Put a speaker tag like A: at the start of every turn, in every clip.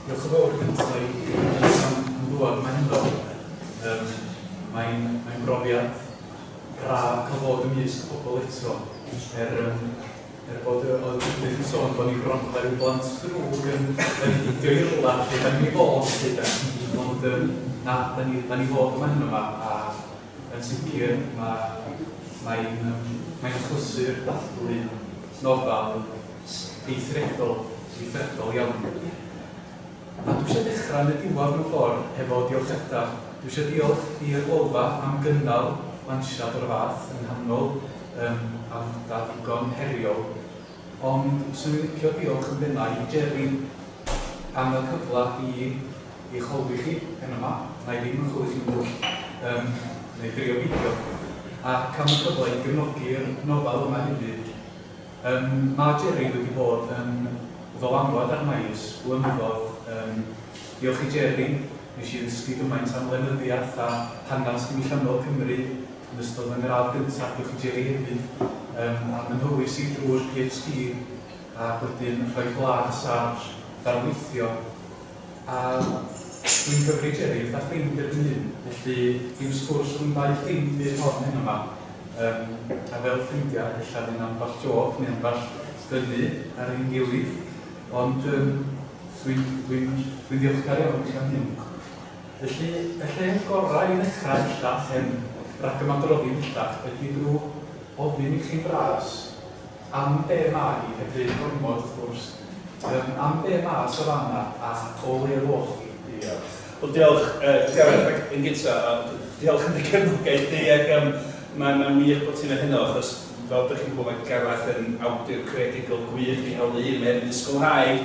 A: Diolch yn fawr gynta i Ellis am ddŵad mae hynno. Um, Mae'n mae brofiad braf cael bod yn ymysg pobl eto. Er, um, er bod y oedd Judith yn sôn bod ni'n gwrando ar ryw blant drwg yn, yn hidio i'r rwla lle da ni'n ei fod lle da. Ond um, na, da ni, da ni fod yma hyn yma a Yn sicr, mae mae'n achlysur dathlu nofel eithriadol, eithriadol iawn. A dwi eisiau dechrau yn y diwedd mewn ffordd, hefo diolchiadau. Dwi eisiau diolch i'r Lolfa am gynnal lansiad o'r fath yng nghanol um, aelodau ddigon heriol. Ond 'swn i'n licio diolch yn bennaf i Jerry am y cyfle i I chwlwch i chi, pen yma, wna i ddim yn chwlwch chi'n ddwll, yym, neu drio beidio, ac am y cyfle i gefnogi'r nofel yma hefyd. Yym, mae Jerry wedi bod yn ddylanwad arna i ers blynyddoedd, yym, diolch i Jerry, nes i ddysgu gymaint am lenyddiaeth a hanes diwylliannol Cymru yn ystod fy ngradd gyntaf, diolch i Jerry hefyd, yym, am fy nhywys i drwy'r PhD, ac wedyn rhoi blas ar ddarlithio. A dwi'n cyfri Jerry, fatha ffrind ydw i'n hyn, felly dim sgwrs rhwng dau ffrind fydd hon heno yma. Yym, a fel ffrindiau, ella fydd 'na ambell jôc neu ambell ddynnu ar ein gilydd, ond yym, dwi'n, dwi'n, dwi'n ddiolchgar iawn chi am hyn. Felly, y lle gorau i ddechrau ella, yym, rag ymadroddi bellach, ydi drw ofyn i chi'n fras, Am be mae y du gormod wrth gwrs. Yym am be mae'r safana a o leia foch chi? Diolch. Wel diolch yy Gareth ac yn gynta a d- diolch am dy gefnogaeth di ac yym mae mae'n wych bod ti'n neud hynna achos fel dych chi'n gwbod mae Gareth yn awdur creadigol gwych, di hawlio i un o mhen disgwlhaig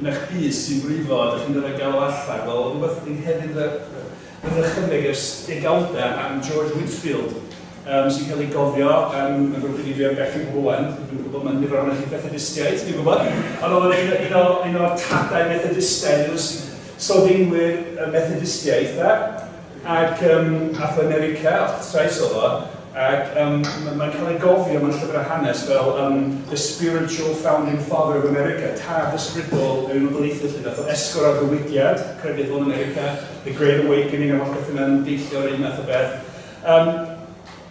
A: Yn eich bys sy'n brifo, ydych chi'n gorfod galw allan, wel, oedd rhywbeth yn nghefn fy fy nychymyg ers degawdau am George Whitfield, yym, sy'n cael ei gofio yn yn fy mhrif i am bell yn rhywlen, dwi'n gwybod mae nifer ohonoch chi'n Fethedistiaid, dwi'n gwybod, ond oedd o'n un o un o un o'r tadau Methodistaidd, un o s- sylfaenwyr y Methodistiaeth, de. Ac ym Mharthau America, o'ch trais oedd o, ac ym mae'n cael ei gofio mewn llyfrau hanes fel ym The Spiritual Founding Father of America, tad ysbrydol yr Unol Daleithiau 'lly, nath o esgor ar ddiwydiad crefyddol America, The Great Awakening a holl beth yna yn deillio o'r un math o beth. Ym.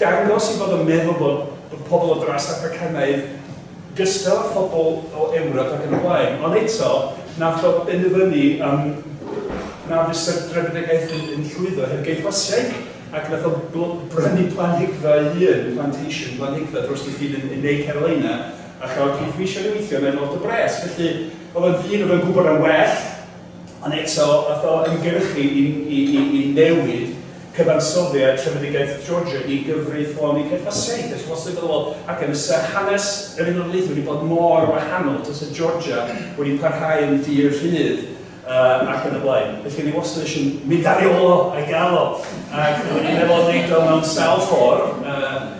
A: Dangos i fod yn meddwl bod bod pobl o dras Affricanaidd gystal â phobl o Ewrop ac yn y blaen. Ond eto, na allwch benderfynu yym na fysa'r drefedigaeth yn yn llwyddo heb Gei Fasiaidd, ac nath o bl- brynu planhigfa ei hun, plantation, planhigfa drost ei hun yn yn Ne Carolina, a chafodd Keith Weishawn ei weithio yna yn ôl do bres. Felly, o'dd o'n ddyn o'dd yn gwbod am well, Ond eto, a'th o ymgyrchu i newid cyfansoddiad trefedigaeth Georgia i gyfreithloni cefnasiaeth y Llywoswydd iddo fo, ac yn fysa hanes yr Unol Daleithiau wedi bod mor wahanol tasa Georgia wedi parhau yn dir rhydd ac yn y blaen. Felly o'n i wastad eisiau mynd ar ei ôl o, a'i gael o, ac o'n i'n meddwl o wneud o mewn sawl ffordd.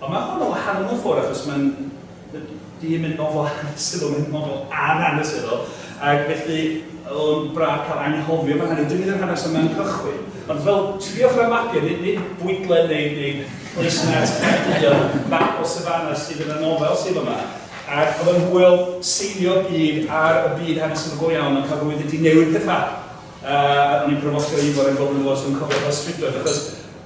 A: Ond mae hwn yn wahanol mewn ffordd achos mae'n di yn mynd mor flaen hanesyddol, mae'n mynd mor flaen hanesyddol, ac felly o'n braf cael anghofio am yr hanes, dim yn hanes yma'n cychwyn. Ond fel triwch ar y mapio, nid, nid bwydle neu, neu Llysnant Caerdydd, ond map o Savannah sydd yn y nofel sydd yma. Ac oedd yn hwyl seilio byd ar y byd hanesyddol go iawn, ond cael rwydd wedi newid pethau. Uh, a o'n i'n brofostio i fod yn gofyn yn gofyn yn cofio fel strydoedd, achos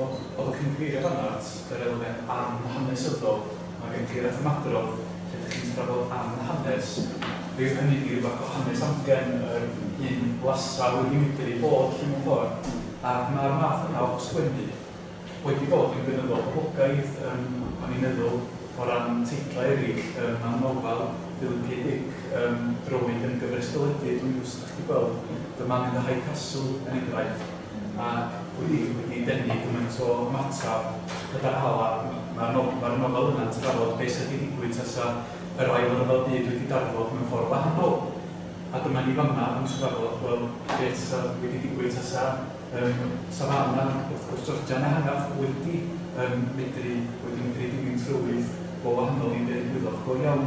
A: Ond oedd y cynghreiriad yma at yr elfen amhanesyddol, mae cynghreiriad at ymadrodd lle dych chi'n trafod am hanes, fe yw hynny ryw fath o hanes amgen yr hyn lasa wedi medru ei bod 'lly mewn ffordd, ac mae'r math yna o sgwennu wedi bod yn gynyddol poblogaidd yym o'n i'n meddwl o ran teitlau eraill yym am nofel Philipie Dick yym Droed yn gyfres deledu dwi'm yn gwybod os dych chi 'di gweld The Man in the High Castle er enghraifft. Ac wedi wedi denu gymaint o ymateb gyda'r Hala, mae'r no- mae'r nofel yna'n trafod be' sy' 'di digwydd tasa yr Ail Ryfel Byd wedi darfod mewn ffordd wahanol. A dyma ni fama yn trafod, wel, be' tasa wedi digwydd tasa yym tasa fam na, wrth gwrs, Georgian ehangach wedi yym medru wedi medru dilyn trywydd go wahanol i be' ddigwyddodd. Go iawn.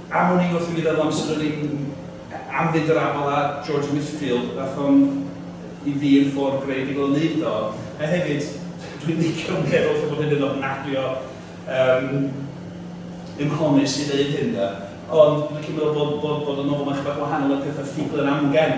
A: Am wn i wrth i mi feddwl am Sir yr Ing am fynd yr afal â George Whitfield, nath o'n i fi yn ffordd greadigol o neud o, a hefyd dwi'n licio meddwl lle bod hyn yn ofnadwy o yym unhonest i ddeud hyn de, ond dwi'n licio meddwl bod bod bod y nofel 'ma'n chydig bach wahanol i'r petha ffuglen amgen.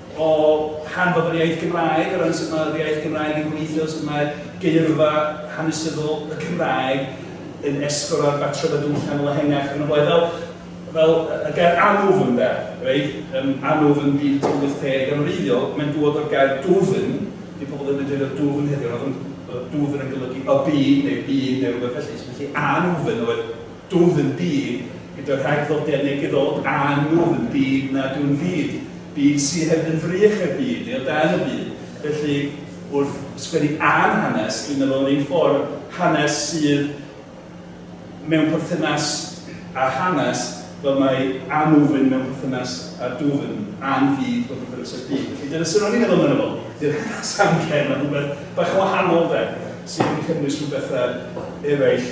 A: O ran bod yr iaith Gymraeg, o ran sut mae'r iaith Gymraeg yn gweithio, sut mae geirfa hanesyddol y Cymraeg yn esgor ar batrymau diwylliannol ehangach ac yn y blaen. Fel, fel y gair anwfn, ynde, reit? Yym, anwfn byd tua 80 yn wreiddiol, mae'n dŵad o'r gair dwfn, dyw pobl ddim yn defnyddio dwfn heddiw, ond oedd dwfn yn golygu y byd, neu'r byd, neu rhywbeth felly. So felly anwfn oedd Dwf yn byd gyda rhagddodiad negyddol a nwf yn byd nad yw'n fyd, byd sy hefyd yn frych er byd neu o dan y byd. Felly, wrth sgwennu am hanes, dwi'n meddwl, yr un ffordd, hanes sydd mewn perthynas â hanes, fel mae anwfn mewn perthynas â dwfn, a'n fyd mewn perthynas â'r byd. Felly, dyna sut ro'n i'n meddwl amdano fo. Dydy'r hanes amgen, mae'n rhywbeth bach yn wahanol, 'de, sydd yn cynnwys rhywbethau eraill.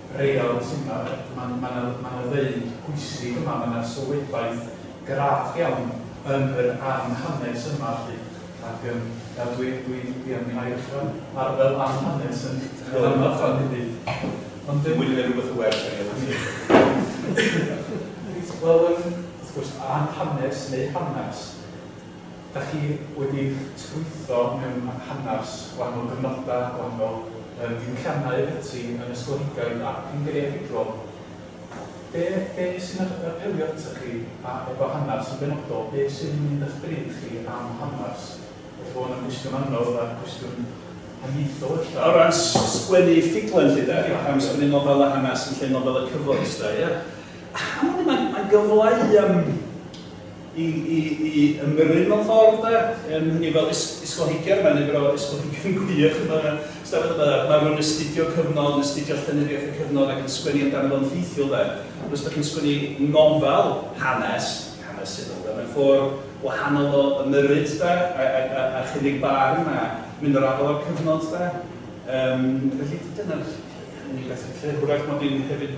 A: real sydd yma, mae 'na mae 'na ddeud pwysig yma, mae 'na sylwebaeth graff iawn yn yr am hanes yma 'lly, ac yym nawr dwi dwi dwi am i Mair ddechra ar fel am hanes yn yn amlach fan hynny. Ond yym... Wedi neud rwbeth yn well na fi am hynny. Reit, wel yym wrth gwrs am hanes neu hanas. Dach chi wedi'ch trwytho mewn hanner-s gwahanol gyfnodau, gwahanol yym diwylliannau ac ati yn ysgolheigaidd ac yn greadigol. Be' be' sy'n ap- apelio atoch chi a efo hanner-s yn benodol, be' sydd yn mynd a'ch bryd chi am hanner-s? Ella bo' hwn yn gwestiwn anodd a cwestiwn haniaethol ella. O ran s- sgwennu ffuglen 'lly 'de? Ie. Pam sgwennu nofel a hanes yn lle nofel y cyfoes 'de, ie? Am wn i mae'n mae'n gyfle i yym i i i ymyrryd mewn ffordd 'de yym hynny fel ys- ysgolheigion mae nifer o ysgolheigion gwych yn fan'na stafell yma de ma' rywun yn astudio cyfnod yn astudio llenyddiaeth y cyfnod ac yn sgwennu amdano fo'n ffeithiol de ond os dach chi'n sgwennu nofel hanes hanesyddol de mae'n ffordd wahanol o ymyrryd de a a a a chynnig barn a mynd o'r afael â'r cyfnod de yym felly dyna'r unig beth dwi'n credu hwyrach mod i'n hefyd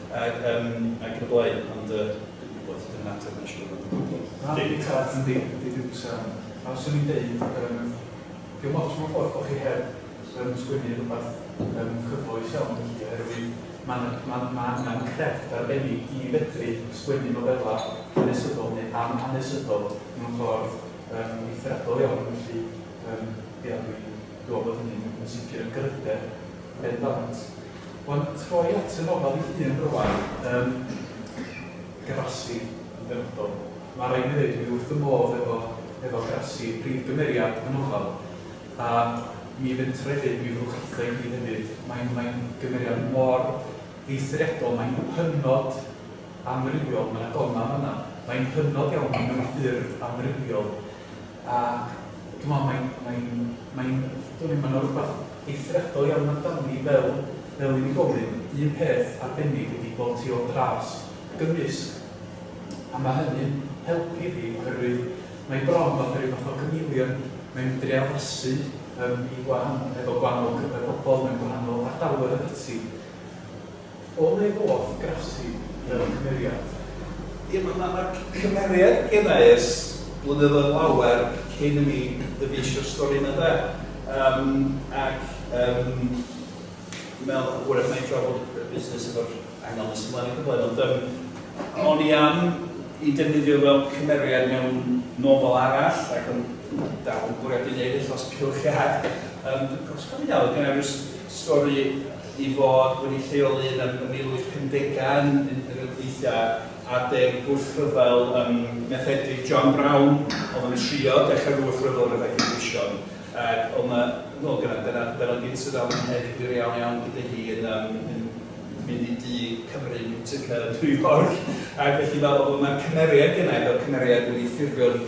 A: Ac yn y blaen, ond yy dwi'm yn gwybod, dydy hynna'n ateb na siŵr ond dwi'm yn gwybod. Na, dim tad yn dim, dim byd am hynna. Swn i'n deud yym dio'm ots mewn ffordd bo' chi heb yym sgwennu rwbath yym cyfoes iawn felly oherwydd ma' 'na ma' ma' angan crefft arbennig i fedru sgwennu nofela hanesyddol neu amhanesyddol mewn ffordd yym eithriadol iawn felly yym ia dwi'n dwi'n me'wl bod hynny'n yn sicr yn gryfder ben dant. Wan troi at y nofel ei hun rwan yn Grassi yn benodol. Ma raid mi ddeud dwi wrth fy modd efo efo Grassi, prif gymeriad y nofel, a mi fentra i ddeud mi fyddwch chitho i mi hefyd, mae'n mae'n gymeriad mor eithriadol, mae'n hynod amrywiol, ma na goma fanna, mae'n hynod iawn, mae'n mewn ffurf amrywiol. A dwi'n meddwl mae'n, mae'n, mae'n, dwn i'm, mae 'na rywbeth eithriadol iawn amdani fel, fel unigolyn, un peth arbennig ydi bod hi o dras gymysg, a mae hynny'n helpu fi oherwydd mae hi bron fatha rhyw fath o chameleon, mae'n medru addasu yym i wahan- efo gwahanol cyfradd pobl mewn gwahanol ardaloedd ac ati. O le ddoth Grafsi fel cymeriad? Ie, ma' ma' ma' c- cymeriad genna i ers blynyddoedd lawer cyn i mi ddyfeisio'r stori 'ma, ynde? Yym ac yym dwi'n meddwl wrach na'i drafod y busnes efo'r angel nes ymlaen o gwbl ond yym o'n i am 'i defnyddio fel cymeriad mewn nofel arall ac o'n i'n dal yn bwriadu neud e dros Culhwch Iâd. Yym dwi'n cofio os dwi'n cofio'n iawn oedd genna i ryw s- stori i fod wedi lleoli yn y mil wyth pumdegau yn un o gweithiau adeg gwrthryfel ym Methedig. John Brown oedd yn trio dechrau'r wrthryfel gyda Glyndwsion ac oedd yna, wel gyda, dyna, dyna gyd sydd am hynny, wir iawn iawn gyda hi yn yym yn mynd i dŷ Cymru Musica yn New York ac felly fel oedd yna cymeriad gynna i fel cymeriad wedi ffurfio'n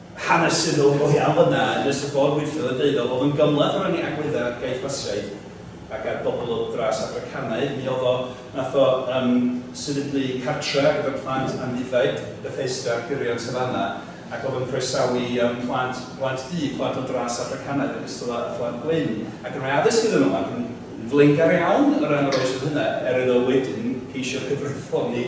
A: hanesyddol go iawn fyna yn nes y ffordd weithiodd a deudodd fod yn gymhleth o ran ei agweddau ar gaeth Basiaidd ac ar bobl o dras Affricanaidd. Mi oedd o, nath o yym sefydlu cartre ar gyfer plant amddiffaid, Bethesda, ar gyrion Savana, ac oedd yn croesawu yym plant, plant du, plant o dras Affricanaidd yn ogystal â phlant gwyn, ac yn rhoi addysg iddyn nhw, ac yn flaengar iawn o ran yr oes oedd hynna, er iddo wedyn geisio cyfreithloni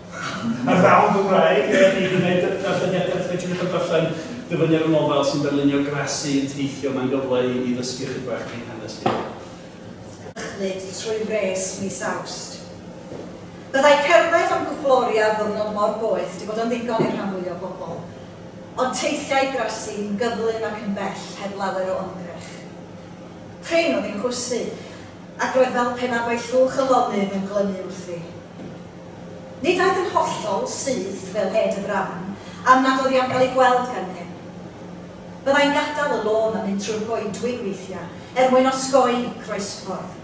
A: Ar ddaw'n Gymraeg, er i gwneud darlleniadau wrth fedru cael darllen dyfyniad y nofel sy'n darlunio Gracie yn teithio, mae'n gyfle i ni ddysgu ychydig bach ein hanes hunain. Dychmyg trwy wres mis Awst. Byddai cerdded am gwpl oriau ar ddiwrnod mor boeth 'di bod yn ddigon i'r rhan fwyaf o bobl. Ond teithiai Gracie yn gyflym ac yn bell heb lawer o ymdrech. Prin oedd ei chwysu, ac roedd fel pe na bai llwch y lonydd yn glynu wrthi. Nid aeth yn hollol syth fel Ed y Brown am nad oedd i am gael ei gweld gan neb. Byddai'n gadael y lôn a mynd trwy'r goedwig weithiau er mwyn osgoi croesffordd.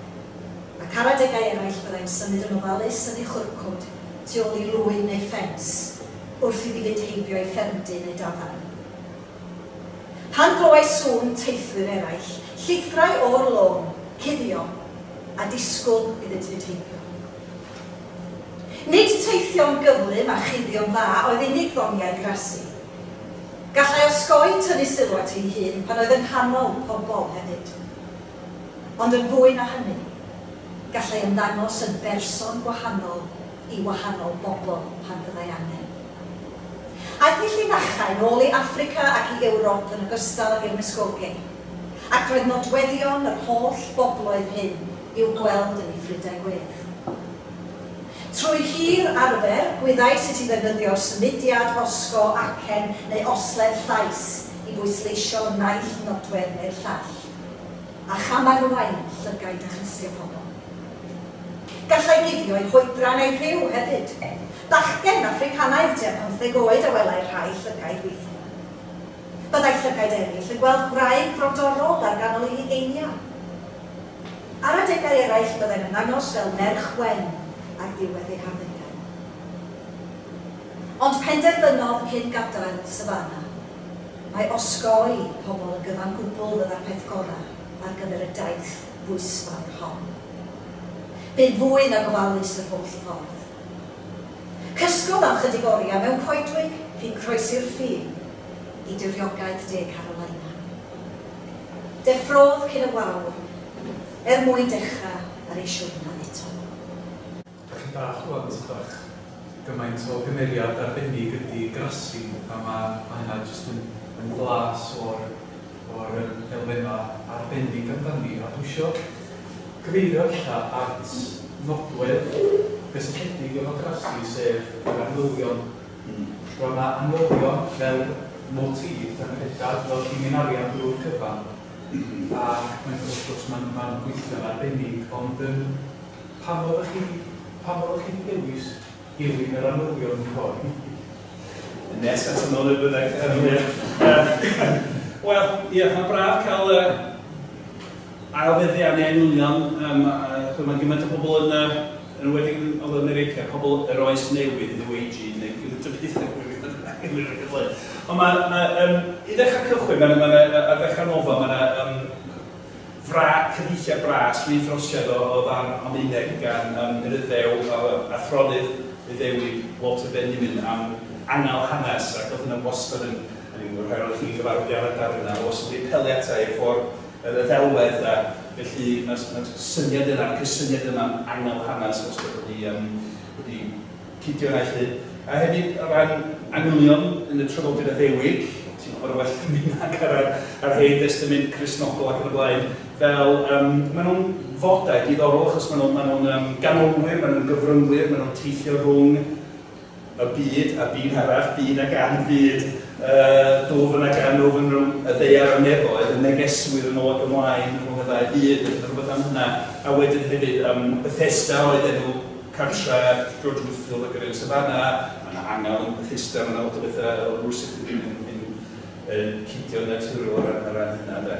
A: Ac ar adegau eraill byddai'n symud yn ofalus yn ei chwrcwd tu ôl i rwyn neu ffens wrth iddi fynd heibio ei ffermdy neu dafarn. Pan glywai sŵn teithwyr eraill, llithrai o'r lôn, cuddio, a disgwyl iddynt fynd heibio. Nid teithio'n gyflym a chuddio'n dda oedd unig ddoniau Grassi. Gallai osgoi tynnu sylw at ei hun pan oedd yng nghanol pobl hefyd. Ond yn fwy na hynny, gallai ymddangos yn berson gwahanol i wahanol bobl pan fyddai angen. Aeth ei llinachau nôl i Affrica ac i Ewrop yn ogystal ag i'r Muskogee, ac roedd nodweddion yr holl bobloedd hyn i'w gweld yn ei ffrydau gwyrdd. Trwy hir arfer, gwyddai sut i ddefnyddio'r symudiad osgo acen neu osledd llais i bwysleisio naill nodwedd neu'r llall, a chamarwain llygaid a chlustia pobl. Gallai guddio'i hoedran a'i rhyw hefyd. Bachgen Affricanaidd tua phymtheg oed a welai rhai llygaid weithiau. Byddai llygaid eraill yn gweld gwraig frodorol ar ganol ei hugeiniau. Ar adegau eraill byddai'n ymddangos fel merch wen ar ddiwedd ei harddegau. Ond penderfynodd cyn gadael Savannah. Mae osgoi pobl yn gyfan gwbl fydda'r peth gorau ar gyfer y daith bwysfawr hon. Bu'n fwy nag ofalus yr holl ffordd. Cysgodd am 'chydig oriau mewn coedwig cyn croesi'r ffin i diriogaeth De Carolina. Deffrodd cyn y wawr er mwyn dechrau ar ei siwrna eto. Dach chi'n dallt rŵan sut bach gymaint o gymeriad arbennig ydi Grassi a ma' ma' hynna jyst yn yn flas o'r o'r yym elfenna' arbennig amdani a dwi isio cyfeirio ella at nodwedd gystledig efo Grassi sef yr arwyddion Roedd yna noddion fel motif Tangenedau fel lliwin arian drwy'r cyfan ac mae'n wrth gwrs mae'n mae'n gweithio'n arbennig ond yym pam oeddech chi pam oeddech chi wedi dewis dilyn yr arnyddion hyn fory hynny? Nes at ymyl y byddeg yn wir. Wel, ie, mae'n braf cael y ail feddian neu enwynion, yym, a chimod, mae gymaint o bobl yn y... Yn enwedig yn Nol America, pobl yr Oes Newydd, New Agey, neu pwy ydyn nhw hyd yn oed, dwi'm yn gwybod beth ydyn nhw. Ond ma', ma', yym, i ddechrau cychwyn, ma' 'na, ma' 'na, ar ddechrau nofel, ma' 'na, yym, fra- cyfieithiad bras, rhydd rhosiad o o ddarn Almaeneg gan, yym, Eryddeu a a athronydd Iddewig Walter Benjamin am angal hanes, ac o'dd hynna wastad yn, o'n i'n gwybod rhai ohonoch chi'n gyfarwydd â'r adar yna, o'dd o wastad wedi apelio ata i, y ffor' Yr ddelwedd de. Felly, mae'r syniad yna, y cysyniad yma'n angel hanes wastad wedi yym wedi cydio yna 'lly. A hefyd o ran manylion yn y Traddodiad Addewid, ti'n gwybod yn well na fi nag ar yr yr Hen Destament Cristnogol ac yn y blaen, fel yym maen nhw'n fodau diddorol achos maen nhw'n maen nhw'n yym ganolwyr, maen nhw'n gyfryngwyr, maen nhw'n teithio rhwng y byd, a byd arall, byd a gan byd, y dwfn a gan ddwfn rhwng y ddaear a'r nefoedd, y negeswyr yn ôl ac ymlaen rhwng y ddau fyd, a rhywbeth am hynna. A wedyn hefyd, um, Bethesda oedd enw cartra George Whitefield ac yr Ellis Savannah, mae yna angel yn Bethesda, mae yna lot o bethau o rwysig yn, yn, yn, yn cidio yn naturiol ar, ar ran hynna, de.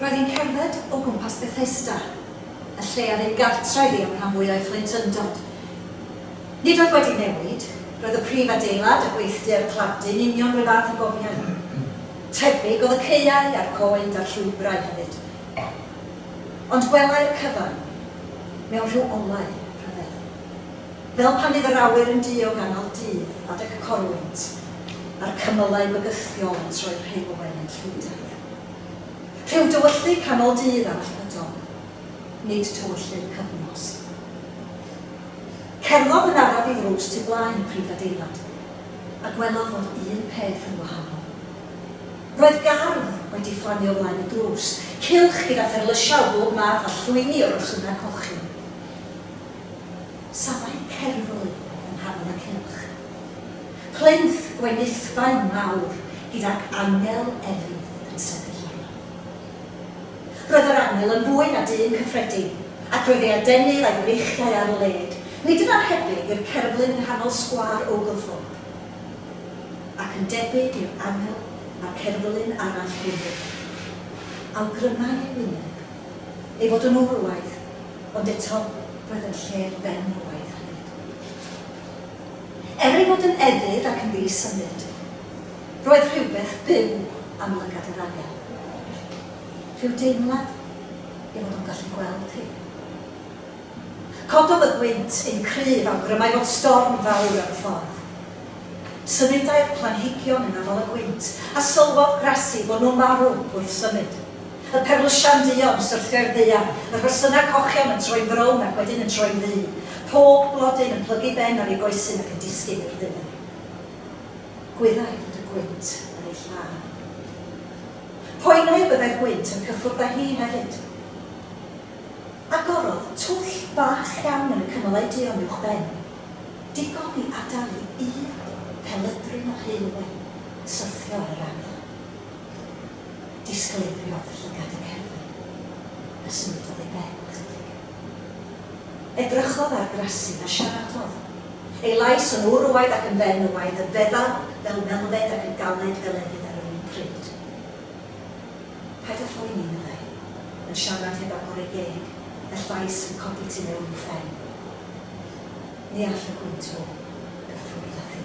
A: Roedd hi'n cerdded o gwmpas Bethesda, y lle a fu gartref i am rhan fwy o'i phlentyndod. Nid oedd wedi newid, roedd y prif adeilad a gweithdy'r claddfu'n union r'un fath a gofiai. Tebyg oedd y caeau a'r goed a'r llwybrau hefyd. Ond gwelai'r cyfan mewn rhyw olau rhyfedd. Fel pan fydd yr awyr yn du o ganol dydd adeg y corwynt, a'r cymylau bygythiol yn troi rheilwen yn llwydaidd. Rhyw dywylldy canol dydd arall ydo, nid tywylldy'r cyfnos. Cerddodd yn araf i ddrws tu blaen y prif adeilad, a gwelodd fod un peth yn wahanol. Roedd gardd wedi fflamio o flaen y drws, cylch gyda pherlysiau o bob math a llwyni o resynau cochion. safai cerflun yng nghanol y cylch. Plinth gwenithfaen mawr gydag angel efydd yn sefyll arno. Roedd yr angel yn fwy na dyn cyffredin, ac roedd ei adenydd a'i freichiau ar led, nid yn annhebyg i'r cerflun yng nghanol sgwâr Oglethorpe. Ac yn debyg i'r angel a'r cerflun arall hwnnw. Awgrymai ei wyneb ei fod yn wrywaidd. Ond eto, roedd yn lle'r ben oedd hynny. Er ei fod yn efydd ac yn ddi-symud, roedd rhywbeth byw am lygad yr arian. Rhyw deimlad ei fod o'n gallu gweld hi. Cododd y gwynt yn cryf awgrymai fod storm fawr ar y ffordd. Symudai'r planhigion yn afael y gwynt, a sylwodd Gracie fod nhw'n marw wrth symud. Y perlysiau'n duon, y syrthiau'r ddaear, y rhosynau cochion yn troi'n frown ac wedyn yn troi'n ddu, pob blodyn yn plygu ben ar ei goesyn ac yn disgyn i'r ddaear. Gwyddai fod y gwynt yn ei lladd. Poenai y byddai'r gwynt yn cyffwrdd â hi hefyd. Agorodd twll bach iawn yn y cymylau duon uwch ben, digon i adael i un pelydryn o haelwen syrthio ar yr afon. Disgleiriodd llygad y cerddi, a symudodd ei ben ychydig. Edrychodd ar Gracie a siaradodd. Ei lais yn wrywaidd ac yn fenywaidd, yn feddal fel melfed ac yn galed fel efydd ar yr un pryd. Paid â phoeni, meddai, yn siarad heb agor ei geg, y llais yn codi tu mewn i'w phen. Ni all y gwynt hwn gyffwrdd â thi.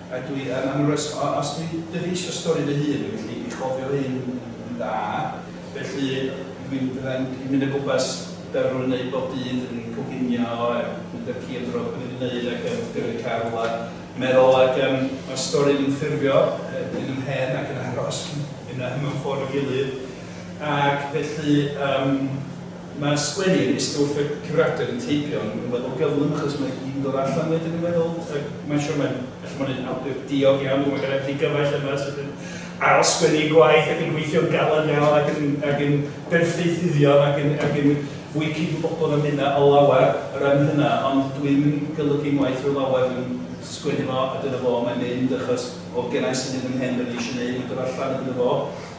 A: A dwi yn anwres o os dwi'n dyfeisio stori fy hun, felly dwi'n cofio hyn yn dda, felly dwi'n fyddai'n mynd o gwmpas Berwyn yn neud bob dydd yn coginio a mynd â'r ci am dro fel dwi wedi neud ac yn gyrru car yn rwla meddwl ac yym ma'r stori yn ffurfio yn yn fy mhen ac yn aros yna mewn ffordd i'w gilydd ac felly yym Mae sgwennu yn stwff y curadur yn teipio yn rhywbeth o gyflym achos mae hi'n dod allan wedyn yn meddwl ac mae'n siwr mae'n felly mae'n un awdur diog iawn dwi'n meddwl gallai fod ddigyfaill yma sydd yn ail sgwennu ei gwaith ac yn gweithio'n galed iawn ac yn, ac yn berffeithyddion ac yn, ac yn fwy cydwybodol na minna o lawer o ran hynna ond dwi ddim yn golygu ngwaith fy lawer dwi'n sgwennu fo a dyna fo mae'n mynd achos oedd gennai syniad yn mhen be o'n i eisiau neud mae'n dod allan a dyna fo.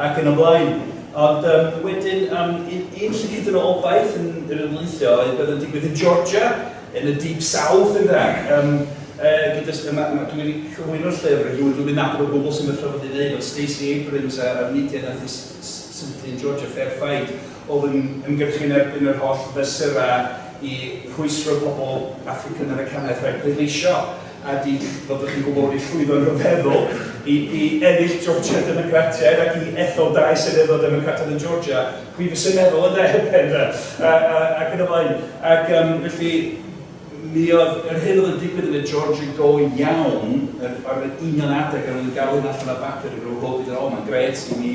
A: ac yn y blaen. Ond yym wedyn yym un un lle hyd yn o obaith yn yr ymlaethio oedd beth yn digwydd yn Georgia, yn y deep south ynde, yym yy gyda s- ma' ma' dwi wedi cyflwyno'r llyfr i rywun dwi'm yn nabod o gwbl sy'n fy trafod i neud, ond Stacey Abrams a a'r mudiad nath i s- s- sefydlu yn Georgia, Fair Fight, oedd yn ymgyrchu yn erbyn yr holl fesurau i rhwystro pobl Affrican Americanaidd rhag pleidleisio. a dic, fel dych chi'n gwybod, wedi llwyddo yn rhyfeddol i, i ennill Georgia Democratiaid ac i ethol dau seneddol Democrataidd yn Georgia, pwy fysa'n meddwl yna erbyn da, a, a, ac yn y blaen. Ac um, felly, mi oedd yr hyn oedd yn digwydd yn y Georgia go iawn, ar yr union adeg yr oedd yn galw allan ar bapur yn rhyw hwb i ddweud, o, mae'n gret i mi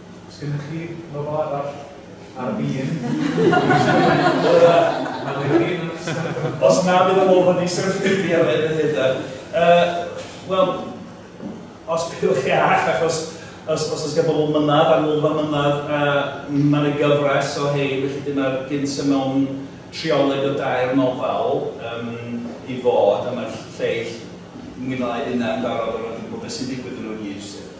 A: Os gennych chi nofel arall ar fin Os na bydd yn ofyn i Sir Ffidi ar ben y hydau. Uh, Wel, os bydwch chi arall, achos os, os oes gen bobl mynad, anwylfa mynad, a mae'n y gyfres o hei, felly dyna'r gynt y mewn trioleg o dair nofel um, i fod, a mae'r lleill mwy na lai yna yn barod o ran gwybod beth sy'n digwydd yn nhw i gyd.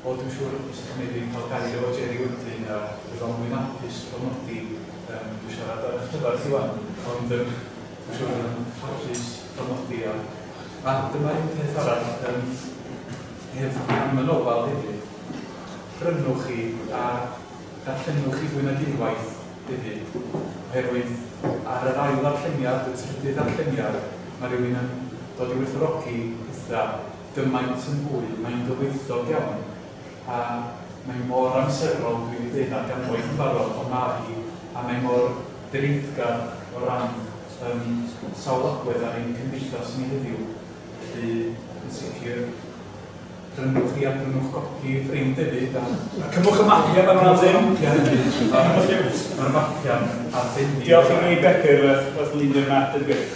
A: O, dwi'n siŵr y bysa chi'n mynd i cael gair o Jerry wedyn a bydd o'n fwy'n hapus cofnodi yym dwi siarad ar 'ych cyfer chi 'wan, ond yym dwi'n siŵr bydd o'n hapus cofnodi a a dyma un peth arall yym hef- am y nofel hefyd, prynwch hi a darllenwch hi fwy nag unwaith hefyd, oherwydd ar yr ail ddarlleniad, y trydydd ddarlleniad, ma' rywun yn dod i werthfawrogi petha, gymaint yn hwyl, mae'n gyfoethog iawn, a mae mor amserol, dwi 'di deud 'na ganwaith yn barod, ond mae hi, a mae mor dreiggar o ran yym sawl agwedd ar ein cymdeithas ni heddiw, felly yn sicr prynwch hi a prynwch gopi i ffrind hefyd, a a cymwch y mapiau fan'na a dim, ma'r mapiau'n arbennig. Diolch i mi Begw wrth lunio'r map yn gwych.